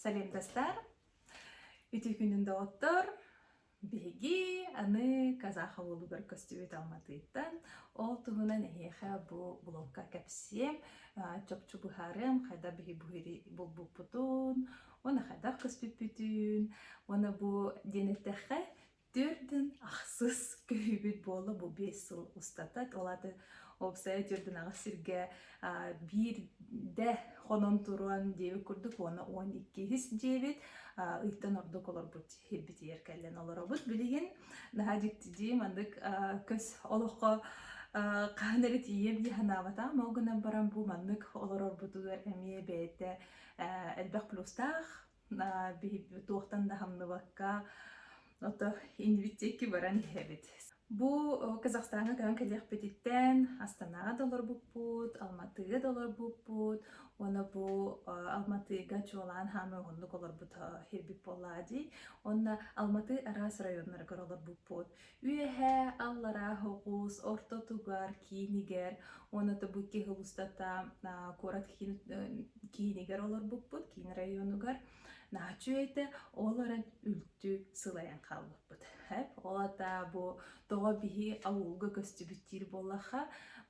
Салем достар! Үтүө күнүн доҕоттор! Биһиги аны казах уулугар көстүбүт Алматыттан, ол туһунан эһиэхэ бу блокка кэпсиэм, а, чопчу быһаарыам, хайдах биһи буһири булбуппутун, уонна хайдах көстүппүтүн, уонна бу диэн эттэххэ, Төрдүн ахсыс көһүүбүт буолла бу биэс сыл устата. Ол аата уопсайа төрдүн аҕыс сиргэ биирдэ хонон туруон диэбит курдук уона он иккиһис дьиэбит ыйтан ордук олорбут сиһирбитигэр кэлэн олоробут. Билигин наһаа дьиктидии маннык көс олоххо хаһан эрэ тиийиэм дии санаабатаҕым. Ол гынан баран бу маннык олорорбутугар эмиэ бэйэтэ элбэх плюстаах туохтан да хамныбакка ото инвитикки баран иһэбит. Бу Казахстаҥҥа көһөн кэлиэхпититтэн Астанаҕа да олорбуппут, Алматыга да олорбуппут уонна бу Алматыга чуолаан хаамыы уһуннук олорбут ирбит буоллаа дии. Уонна Алматы араас районнарыгар олорбуппут. Үөһээ Аллараа Оҕуус ортотугар киинигэр уонатыбыт киһи устата куорат киинигэр олорбуппут, киин районугар нааччы этэ, ол баран үлтү сылайан хаалбыппыт. Эп, ол атаа бу тоҕо биһи авылга көстүбүттиир буоллаха,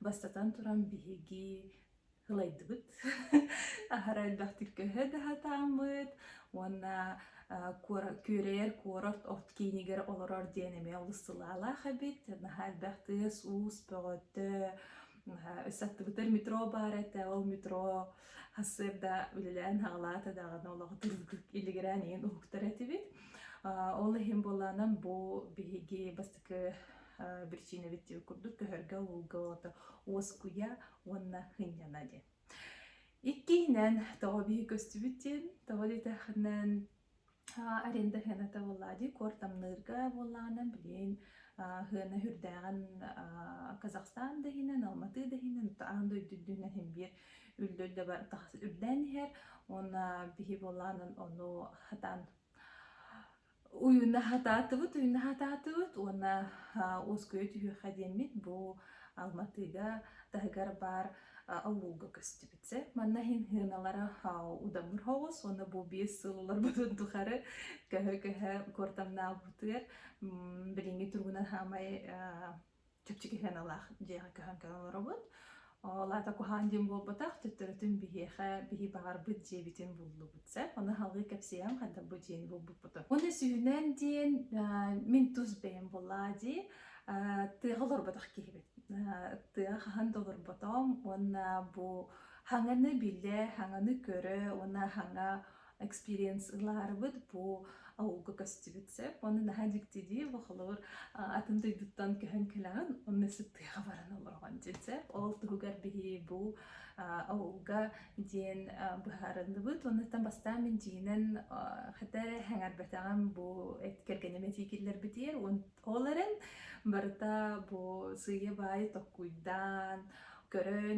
бастатан туран биһиги ылайдыбыт аһара элбэхтик көһө да сатааммыт уонна күөрэйэр куорат от киинигэр олорор диэн эмиэ олус сылаалаах эбит наһаа элбэх тыас уус бөҕөтө өссө аттыбытыгар метро баар этэ ол метро сарсыарда үлэлээн саҕалаата даҕаны олоҕутун илигирээн иһин уһуктар этибит ол иһин буолаанан бу биһиги бастакы биричиинэбит курдук көһөргө уулга уоскуйа уонна хынньана диэн. Иккиһинэн, тоҕо биһи көстүбүт диэн, тоҕо диэтэхинэн, аренда хыаната буоллаа дии, куортамныырга буоллаҕынан билигин хыана үрдээҕин Казахстан да иһинэн, Алматы да иһинэн, аан дойду үрдүнэн иһин биир үллүр да бар тахс үрдээн иһэр. Уонна биһи буоллаҕынан ону хатан Уйунаһатаатыбыт, уйунаһатаатыбыт уонна уоскуйа түһүөххэ диэммит бу Алматыга таһыгар баар аллууга көстүбүт сэ. Манна иһин сыаналара удамыр соҕус уонна бу биэс сыл олорбутун тухары көһө-көһө куортамнаабытыгар билиҥҥи туругунан саамай чэпчэки сыаналаах дьиэҕэ көһөн кэлэн олоробут. Ол аата куһаҕан диэн буолбатах, төттөрүтүн биһиэхэ биһи баҕарбыт дьиэбитин буллубут. Сөп, ону аһылҕыы кэпсиэм хайдах бу дьиэни булбуппутун. Уонна сүүһүнэн диэн э, мин тус бэйэм буллаа дии э, тыаҕа олорботох киһибит. Э, тыаҕа хаһан да олорботом уонна бу хаҥаны билэ, хаҥаны көрө уонна хаҥа экспириенс ылаарыбыт бу ауылга көстүбүт сөп уонна наһаа дьиктидии бу холобур атын дойдуттан көһөн кэлэҕин онно сыттыаҕа баран олороҕун дии сөп ол туһугар биһи бу ауылга диэн быһаарыллыбыт оннуттан бастаан мин дьиинэн хата сэҥэрбэтэҕим бу кэргэним этии киллэрбитигэр ол эрэн барыта бу сыыйа баай токкуйдаан көрөн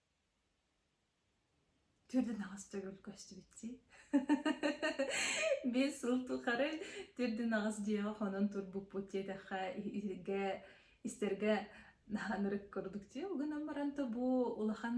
Түрдүнаҕас төгүл көстүбүттии биир сыл тухары түрдүнаҕас дьиэҕэ хонон турбуппут диэтэххэ итиргэ истэргэ наһанырык курдук дии угунан баран то бу улахан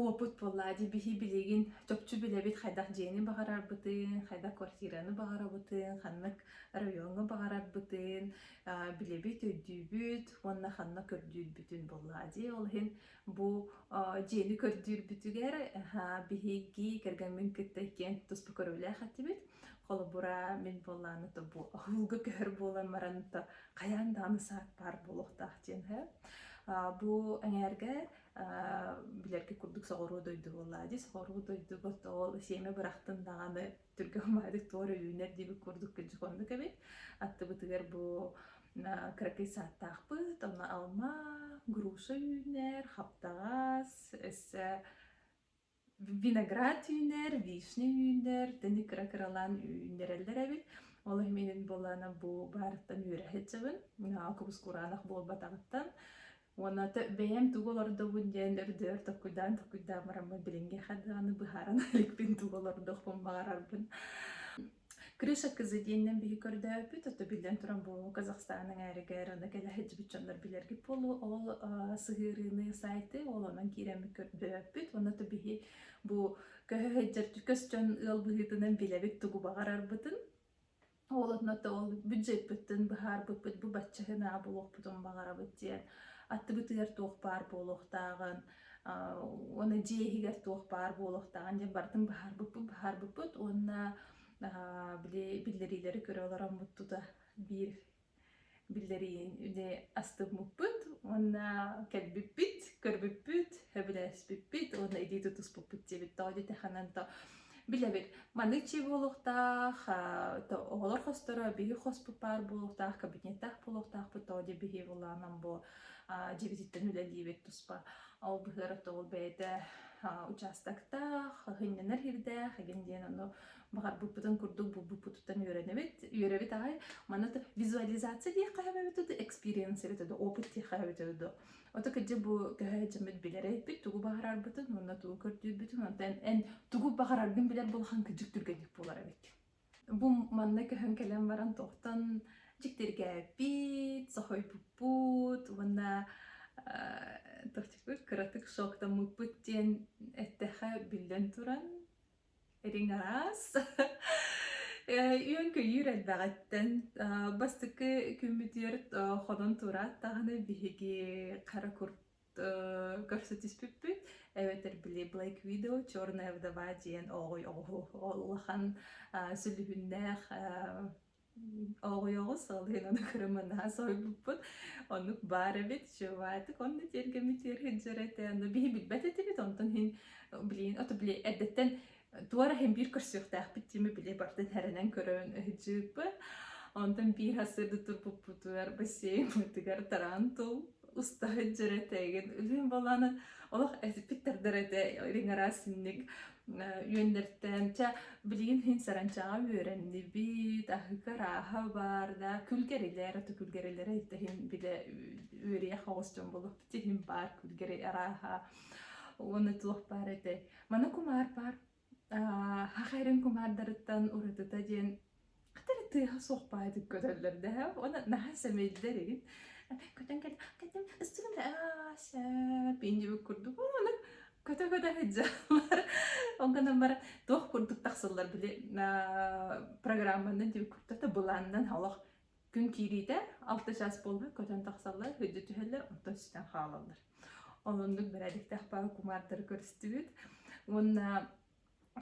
уопут буоллаа дии биһи билигин чопчу билэбит хайдах дьиэни баҕарарбытын хайдах квартираны баҕарабытын ханнык райоҥҥа баҕарарбытын А, билэбит, өйдүүбүт уонна ханна көрдүүрбүтүн буоллаҕа дии. Ол иһин бу а, дьиэни көрдүүрбүтүгэр аһаа, биһиги кэргэммин кытта иккиэн туспа көрүүлээх этибит. Холобура, мин буоллааны то бу аһыылга көһөр буолан баран то хайаан даҕаны саак баар буолуохтаах диэн үһү. А, бу эҥээргэ а, билэргэ курдук соҕуруу дойду буоллаҕа дии. Соҕуруу дойдубут ол сиэмэ бырахтын даҕаны Түргэн маайдык туор өлүүнэр диэбит курдук күнчүк оннук эбит. Аттыбытыгар бу кыракый сааттаахпыт, онно алма, груша үүнэр, хаптаҕас, өссө виноград үүнэр, вишня үүнэр, таны кыра-кыралаан үүннэрэллэр эбит. Ол иһин буолана бу баарыттан үөрэхи чыбын, кубус кураанах буолбатаҕыттан Уонна бэйэм тугу олордобун диэн өрдөөр токуйдаан токуйдаан бараммын билиҥҥи ха даҕаны быһааран иликпин тугу олордуохпун баҕарарбын Крыша кызы диэннэн биһи көрдөөпүт, ото биллэн туран бу Казахстан эҥээригэр аны кэлэ сылдьыбыт дьоннор билэргит буолуо. Ол сыһыарыыны сайты, ол онон киирэммит көрдөөппүт. Уонна то биһи бу көһө сылдьар көс дьон ыал быһыытынан билэбит тугу баҕарарбытын. Уолунна да ол бюджетпыттан быһаарбыппыт бу бачча гынаа буолуохпутун баҕарабыт диэн аттыбытыгар туох баар буолуохтааҕын аа уонна дьиэ иһигэр туох баар буолуохтааҕын диэн барытын быһаарбыппыт быһаарбыппыт уонна аа били биллэриилэри көрө олороммут тута биир Биллэриин үдэ астыммыппыт уонна кэлбиппит, көрбүппүт, сөбүлэспиппит уонна илии тутуспуппут диэбит тоҕо диэтэхэнэн то билэбит маны чи буолуохтаах оҕолор хосторо биһи хоспут баар буолуохтаах кабинеттаах буолуохтаахпыт тоҕо диэ биһи булаанан бу дьибититтэн үлэлиибит туспа ол быһыар то ол бэйэтэ учаастактаах хынньанар ирдээх эгин диэн ону баҕарбыппытын курдук булбуппутуттан үөрэнэбит. Үөрэбит аҕай. Манна визуализация диэх хаһабэбит да, экспириенс эбит да, опыт диэх хаһабит да. Ото кырдьык бу көһөөдьөммүт билэрэйпит, тугу баҕарарбытын, уонна тугу көрдүүрбүтүн, онтон эн тугу баҕараргын билэр булхан кырдьык түргэнник буолар эбит. Бу манна көһөн кэлэн баран тохтон дьиктиргээппит, соһуйбуппут уонна тохтуппут кыратык шоктоммуппут диэн эттэхэ биллэн туран Этиҥ араас. Э, Үөн-көйүүр элбэҕиттэн а, бастакы күммүтүгэр а, хонон турааттаҕына биһиги хара курт э, көрсө түспүппүт эбэтэр били Black Widow Черная вдова диэн оҕуй оҕуһу улахан а, сүлүһүннээх а, Оҕуйоҕу салыынан кырымынаа сойбуппут. Оннук баар эбит, чываатык, онно тиэргэммитиэр сылдьар этэ. Но биһи билбэт этибит, онтон иһин, блин, ото били эрдэттэн туора иһин биир көрсүөхтээхпит диэми били бартан һэрэнэн көрөн ыһдьыыппыт. Онтон биир сырды турбуппутугар бассейнбытыгар тараан тул уста сылдьар этэ эгин үлүн болаанан олох эсиппиттэрдэр этэ ириҥараасинник үөннэртээн ча билигин иһин саранчаҕа үөрэннибит аһыка арааһа баар да күлгэрилэр аты күлгэрилэрэ иһин билэ үөрүйэх оҕус дьон болоппут иһин баар күлгэри арааһа уонна туох баар этэй маны кумаар баар хахэрин кумаардарыттан уратыта диэн Хатары тыаһа суох баайдык көтөллөр да уонна наһаа сэмэйдэр игин көтөн кэлэн кэтим ыстыгым Ася пиндибит курдук ууну көтө-көтө сыдьаллар ол гынан баран туох курдук тахсыллар били программаннан диэбит курдук да былаанынан олох күн киириитэ алта чаас буолбут көтөн тахсаллар күддү түһэллэр онтон сүтэн хаалаллар онуннук бэрээдэктээх баа кумаардары көрүстүбүт уонна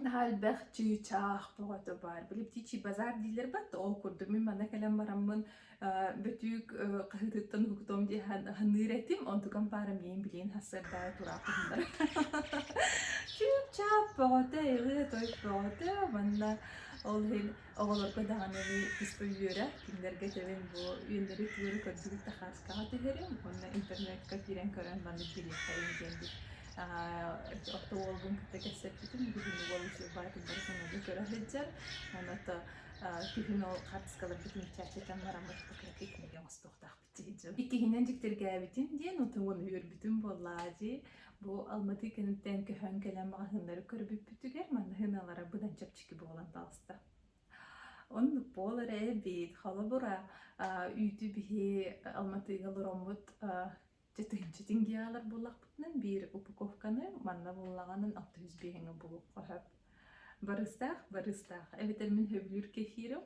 Наһаа элбэх чыычаах бөҕөтө баар. Били птичий базар диилэр бат да ол курдук мин манна кэлэн бараммын э, бөтүүк э, хаһыытыттан уһугутуом диye һан- аһыныыр этим онтукам паара миин билиин хассардаайа тураахыһыннар чыычаах бөҕөтө илы той бөҕөтө манна ол иһин Оҕолорго даҕаны туспа үөрэ, кинилэргэ тэбэн бу үөннэри туора көрдүгүт да хааскаҕа түһэриҥ уонна интернекка киирэн көрөн манна киириэхтэриҥ диэммит орто уолбун кытта кэпсэппитим бүгүн уол учуурбаатын бары санаата көрө сылдьар аны то күһүн ол хапыскаларбытын чээччэтэн баран кыра пикниги оҥостуохтаахпыт Иккиһинэн дьиктиргээбитим диэн утумун үөрбүтүм буоллаа дии. Бу Алматы киниттэн көһөн кэлэн маҕаһыыннары көрбүппүтүгэр маҕаһыыналара быдан чэпчэки буолан таҕыста. Оннук буолар эбит. Холобура, а, үүтү биһи Алматыга олороммут а, чытыынчытин геалар буллахпытынан биир упаковканы манна буллаҕынан 65-ҥа булуохха сөп. Барыстаах, барыстаах. Эбэтэр мин сөбүлүүр кефирим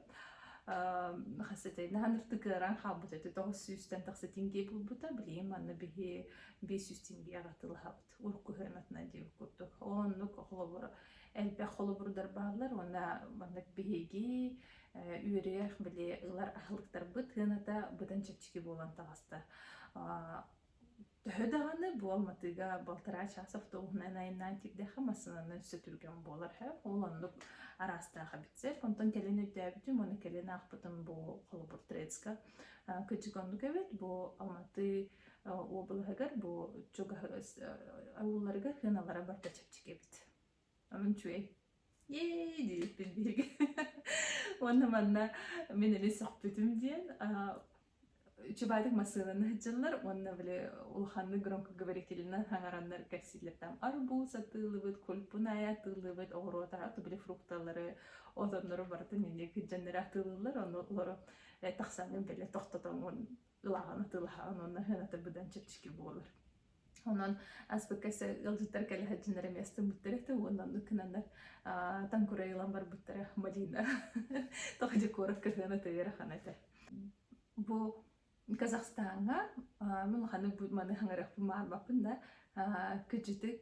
хас этэй наһан ыртык ыараан хаалбыт эти тоҕус сүүстэн тахсытын дии булбута билиим манна биһи биэс жүз тенге атылаһабыт уруккуһуйан атынан дии курдук оннук холобур элбэх холобурдар бааллар уонна маннык биһиги үөрүйэх били ылар аһылыктарбыт тыаната быдан чэпчэки буолан таҕыста Төһө даҕаны буолматыга балтараа чаас автобуһунан айаннаан киирдэххэ массыынанан өссө түргэн буолар һэ ол оннук араастаах эбит сэр онтон кэлин өйдөөбүтүм уонна кэлин аахпытым бу холобур Троицка кырдьык оннук эбит бу Алматы облаһыгар бу чугаһы ауылларыгар хыналара барыта чэпчэки эбит Амын чуэй. Ей диириппин бииргэ. Уонна манна мин ини сөхпүтүм диэн чубаатык массыынаны сылдьаллар уонна били улаханнык громкоговорителынан хаҥараннар кэпсииллэртэн арбуз атыылыбыт, кульпуная атыылыбыт, оҕуруота атыбили фрукталары, отоннору барытын инник дьоннору атыылыыллар, ону олору тахсаҥҥын бэлэ тохтотоҥҥун ылаҕын атыылаһаҕын уонна сыаната быдан чэпчэки буолар. Онон аспыкка сэ ыалдьыттар кэлэ сылдьыннар эмиэ астыммыттар этэ уонна оннук гынаннар таҥкурай ылан барбыттара малина тоҕо декоров кырһыана төйөр ахана этэ. Бу Казахстаҥҥа мин ханнык маны хаңырахпын маанбаппын да кыдьытык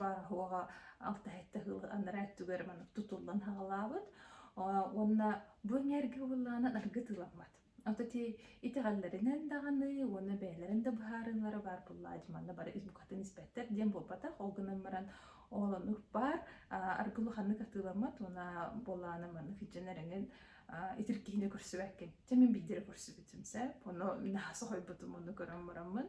бааһуоҕа алта сэттэ сыл анараа өттүгэр маннык тутуллан саҕалаабыт уонна бу эҥээргэ буоллаанан аргытыламмат ото ти итэҕэллэринэн даҕаны уонна бэйэлэрин да быһаарыылара баар буоллаа дьи манна бары укатын испэттэр диэн буолбатах ол гынан баран оолон урпаар аргы улаханнык атыыламмат уона буоллаана маннык иччэнэр эҥин итиркиһине көрсүбэккин чэ мин биидире көрсүбүтүм сеп ону нааса хойбутум ону көрөн бараммын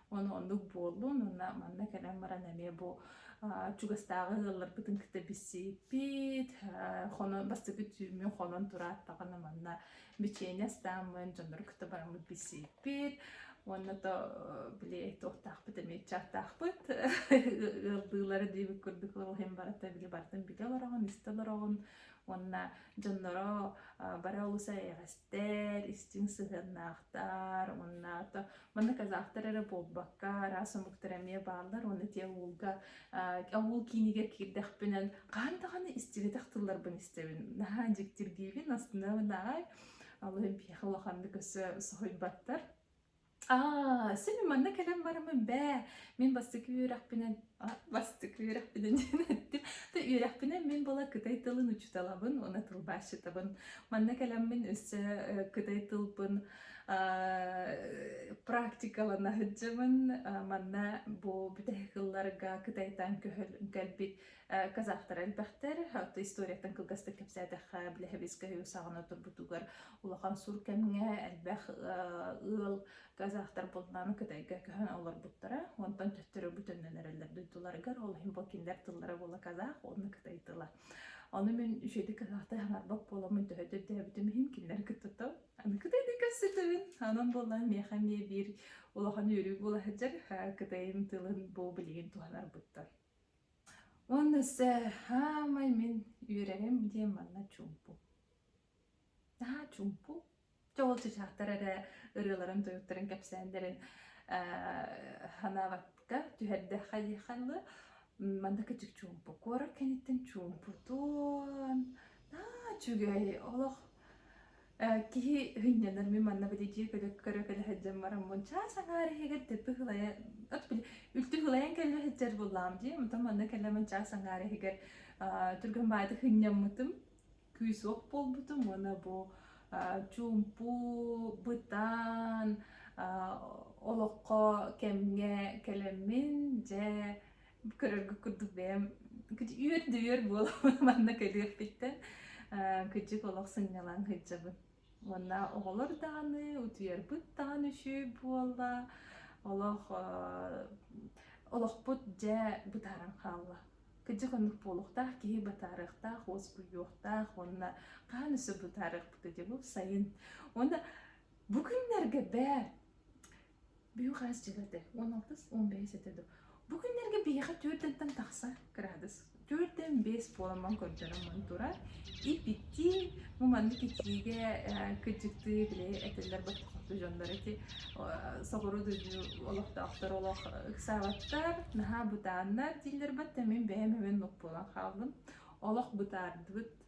Ону оннук буоллун уонна манна кэлэн баран эмиэ бу чугастааҕы ыалларбытын кытта билсиппит, хоно бастакы түүммүн хонон турааттаҕына манна бичиэнэ астааммын дьоннору кытта бараммыт билсиппит уонна то били туохтаахпыт эмиэ чаактаахпыт ыалдыылара диэбит курдук ол иһин барыта били барытын билэ олороҕун истэ олороҕун уонна дьонноро бары олус эйэҕэстик Эр истиҥ сыһыаннаахтар, онно манна казахтар эрэ буолбакка, араас омуктар эмиэ бааллар уонна ити авылга, авыл киинигэр киирдэхпинэ, хаһан даҕаны истибэтэх тылларбын истэбин. Наһаа дьиктиргиибин, астынабын аҕай. Алын биһиэхэ улаханнык өссө соһуйбаттар. Аа, син манна кэлэн барамын бээ. Мин бастакы үөрэхпинэн а, бастакы үөрэхпинэн диэн эттим. То үөрэхпинэн мин была кытай тылын учуталабын, уна тылбаасчытабын. Манна кэлэммин өссө э, кытай тылбын а, практикалана сылдьабын. А, манна бу бүтэһик кылларга кытайтан көһөл кэлбит казахтары элбэхтэр то историяттан кылгастык кэпсээтэххэ билэһэбиэскэ үһү саҕана турбутугар улахан сур кэмҥэ элбэх ыал казахтар булнааны кытайга көһөн олорбуттара онтон төттөрү бүтүннэн эрэллэр дойдуларыгар ол иһин бу кинилэр тыллара буола казах уонна кытай тыла ону мин үчүгэйдик казахты аһынарбак буоламмын төһө төрдөөбүтүм иһин кинилэр кыттытым аны кытайдыы көрсүтүбүн анан буоллан миэхэ эмиэ биир улахан үөрүү буола сылдьар кытайын тылын бу билигин туһанарбыттан Уонна өссө саамай мин үөрэрим диэн манна чуумпу. Наһаа чуумпу. Чоҕул чычаахтар эрэ ырыаларын-тойуктарын кэпсээннэрин э санаабакка түһэрдэххэ диэххэ дылы манна кычык чуумпу. Куорат кэнниттэн чуумпутун, наа үчүгэй олох Э, киһи һынньанар ми манна били дьиэ көлөк көрө кэлэ сылдьан бараммын чаас аҥаар иһигэр дэппи һылайа от били үлтү һылайан кэллэ сылдьар буллаам дии мотон манна кэлэмин чаас аҥаар иһигэр а, турган баайты һынньаммытым күүс ох буолбутум уона бу а, чуумпу бытаан а, олоххо кэмҥэ кэлэммин дьэ көрөргө курдук бэйэм үөр да үөр буолабын манна көрүөхпүттэн кыдьык олох сынньалаҥ сылдьабын уонна оҕолор даҕаны утуйарбыт даҕаны үчүгэй буолла олох олохпут дьэ бытааран хаалла кыдьык оннук буолуохтаах киһи бытаарыахтаах уоскуйуохтаах уонна хаан өссө бытаарыахпыт этэ бу сайын уонна бу күннэргэ бээ Бүһүү хаас дьигэрдэ. Уон алтыс, уон бэс этэ дуу. Бу күннэргэ биһиэхэ түөртэнтэн тахса кыраадыс. Түөртэн бэс буоламмын көрдөрөммүн турар. Ип-иттии, бу маннык итиигэ э, кыдьыктыы били этэллэр ботохотту дьоннор ити э, соҕуру дойду олохтоохтор олох ыксаабаттар, наһаа бытааннар дииллэр бат, мин бэйэм эмин нукпулан хааллым. Олох бытаардыбыт,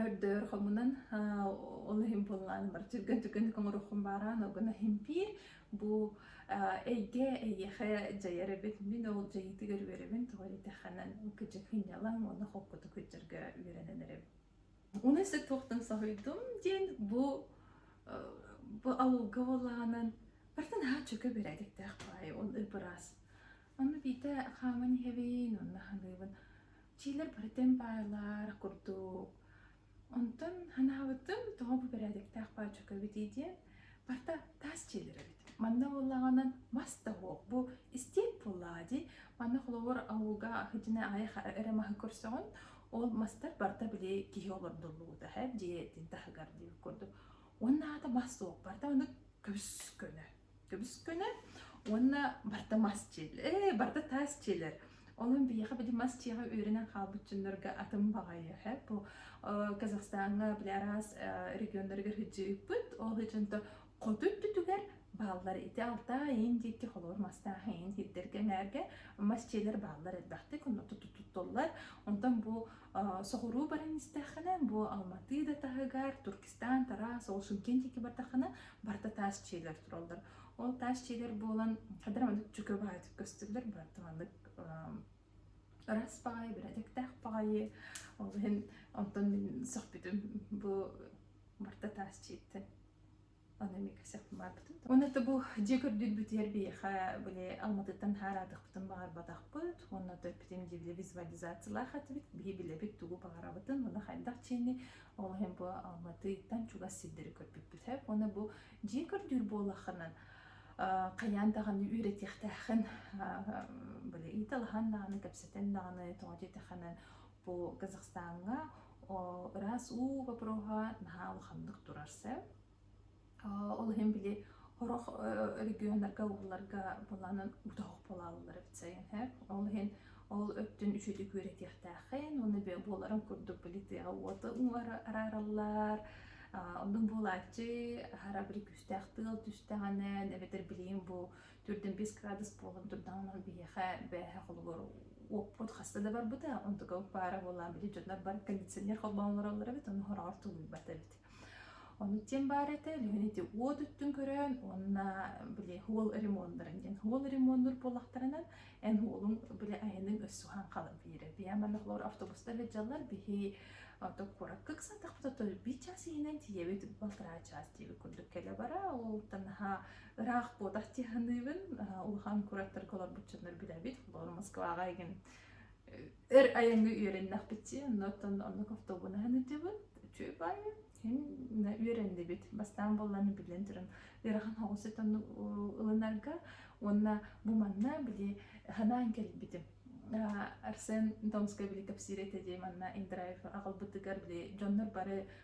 Өрдөр хомунан ол иһин буллаан бар түргэн-түргэнник оҥороххун баараан ол гына импиир бу эйгэ эйиэхэ дьайар эбит мин ол дьайыытыгар үөрэбин тоҕо диэтэххинэ кыдьыкынньалаҥ уонна холкутук итжэргэ үөрэнэн эрэбин унесык туохтан соһуйдум диэн бу бу ауылга буоллаҕынан бартан аһа чөкө бэрээдэктээх баай ол быраас Онно биитэ хааман иһэбин уонна саныыбын, чиилэр барытын баайылаар курдук. Онтон санаабытым, тоҕо бу бэрээдэктээх баачука эбитий диэн, барыта таас чиилэр эбит. Манна буоллаҕына мас да суох, бу истиэп буоллаҕа дии. Манна холобур ауылга сылдьан аайы эрэ маһы көрсөҕүн, ол мастар барыта били киһи олордуллубута эһэ дьиэтин таһыгар диир курдук. Уонна аата мас суох, барыта оннук көс көнө. Көбүскүнэ уонна барда мас дьиэлэр, ээ, барда таас дьиэлэр. Олон биһиэхэ били мас дьиэҕэ үөрэнэн хаалбыт дьоннорго атын баҕайы һэ бу э, Казахстаҥҥа били араас э, регионнарыгар сылдьыыппыт. Ол ичинто хоту өттүтүгэр бааллар ити алтаа иин диэки холобур мастаах иин тиэрдэргэ эҥээргэ мас дьиэлэр бааллар элбэхтик онно туту туттуллар. Онтон бу Соҕуруу баран истэххинэ, бу Алматы да таһыгар, Туркестан, Тарас, ол Шымкент диэки бардаххына, барыта таас дьиэлэр тураллар. Ол таас дьиэлэр буолан, хадара маннык дьүкө баайытык көстөллөр, барыта маннык ыраас баҕайы, бэрээдэктээх баҕайы. Ол иһин онтон мин сөхпүтүм бу барыта таас дьиэттэн. Аны эмиэ кэсэх баарбытын. Уонна это бу дьиэ көрдүүрбүтүгэр биһиэхэ били Алматыттан хаараатыкпытын баҕарбатахпыт. Уонна төрппүтүм диэбилэ визуализациялаах этибит. Биһи билэбит тугу баҕарабытын, маны хайдах чиэнни ол иһин бу Алматыттан чугас сирдэри көрбүппүт. Уонна бу дьиэ көрдүүр буоллаххынан хайаан даҕаны үөрэтиэхтээххин, били ыйыталаһан даҕаны, кэпсэтэн даҕаны, тоҕо диэтэххинэ Бу Казахстаҥҥа ыраас уу бопуруоһа наһаа улаханнык турар сөп. Ол иһин били хорох регионнарга ууларга былаанын бутаҕых булаллар эбит сайын һэ. Ол иһин ол өттүн үчүгэй күөрэтиэхтээхин уонна буоларын курдук били тыаҕа уота уҥара араараллар. Оннук буолааччы аһара били күүстээх тыал түстэҕинэ эбэтэр билигин бу төрдүн бэс градус буолан турдаҕын ол биһиэхэ бээһэ холобур уоппут хаста да барбыта онтука пара буолаан били дьоннор бар кондиционер холбоон олороллор эбит оны хороҕор тулуйбат эбит ону тем баар этэ лүһүн ити уот үттүн көрөөн уонна били уол ремонттарын диэн уол ремоннур буолахтарынан эн уолун били айының өссүһан халым биирэ биаманах лор автобуста лэджаллар бихи ото куорак кыксантах бото би час иһинен тиебит балтара час диеби курдук келе бара ол танаха ыраах буотах тиһаныыбын улахан кураттарга олорбуччаннар билэбит холобур москваҕа игин эр айаҥҥа үөрэннэхпитчи оннуттан оннук автобунаһын ытыбыт үчүүй баайы үөрэннибит бастаан болланы биллэн туран ыарахан хоҕусит онну ылынарга уонна бу манна били ханаан кэлбитим Арсен Томскай били кэпсиир этэ дии манна Индрайв аҕалбытыгар били дьоннор бары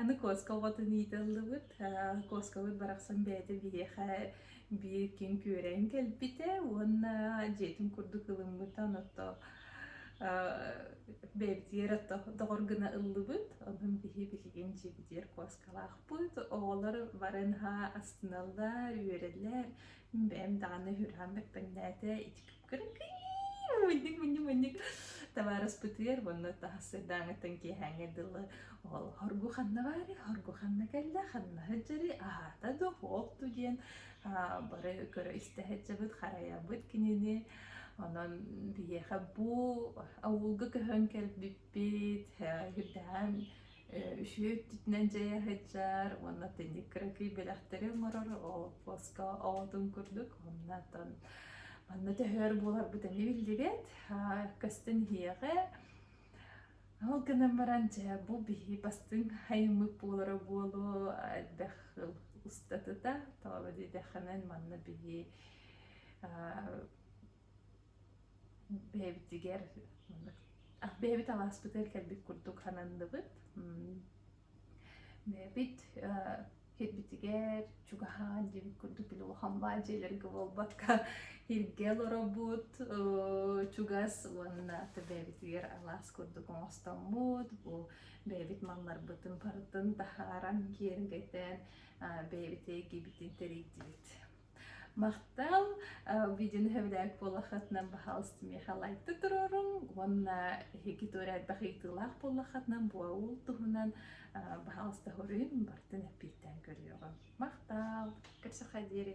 Аны куоска оҕотун ыытыллыбыт. Э, Куоскабыт барахсан бэйэтэ биһиэхэ биир күн күөрэйэн кэлбитэ уонна дьиэтин курдук ылыммыта. Оттоо э, бэйэбитигэр отто доҕор гына ыллыбыт. Онон биһи билигин дьиэбитигэр куоскалаахпыт. Оҕолор бары наһаа астыналлар, үөрэллэр. Бэйэм даҕаны үһүрүһэн бэппэҥнээтэ ити Мунньук, мунньук, мунньук. Табаарыспытыгар уонна таһассыардааҥыттан киэһээҥҥэ дылы оҕолор бу ханна баары, хоргу ханна кэллэ, ханна сылдьары, аһаата да уһуохту диэн аа, бары көрө-истэ сылдьабыт, харайабыт кинини. Онон биһиэхэ бу авылга көһөн кэлбиппит, э, үрдээн Үтүө өттүтүнэн дьайа сылдьар уонна атынньык кыракый бэлэхтэри оҥорор олоппоско оҕотун курдук. Оннуттан манна төһөр буоларбыт эмиэ биллибэт. Көстөн иһиэҕэ. Ол гынан баран дьэ бу биһи бастыҥ айыммыт буолара буолуо элбэх ыл устатыта. Тоҕо диэтэххинэ манна биһи бэйэбитигэр бэйэбит алааспытыгар кэлбит курдук сананныбыт бэйэбит кэлбитигэр чугаһаан дьиэбит курдук били улахан баан дьиэлэргэ буолбакка иһиргэ олоробут чугас уонна бэйэбитигэр алаас курдук оҥостоммут бу бэйэбит малларбытын барытын таһааран киэргэйтэн бэйэбит эйгибитин тэрийдибит Махтал видеоны сөбүлээбит буоллаххытынан баһаалыста миэхэ лайкта туруоруҥ уонна эһиги туора элбэх ыйытыылаах буоллаххытынан буол туһунан баһаалыста хоруйун бартын эппиэттээн көрүөҕүм. Махтаал, көрсөххө диэри.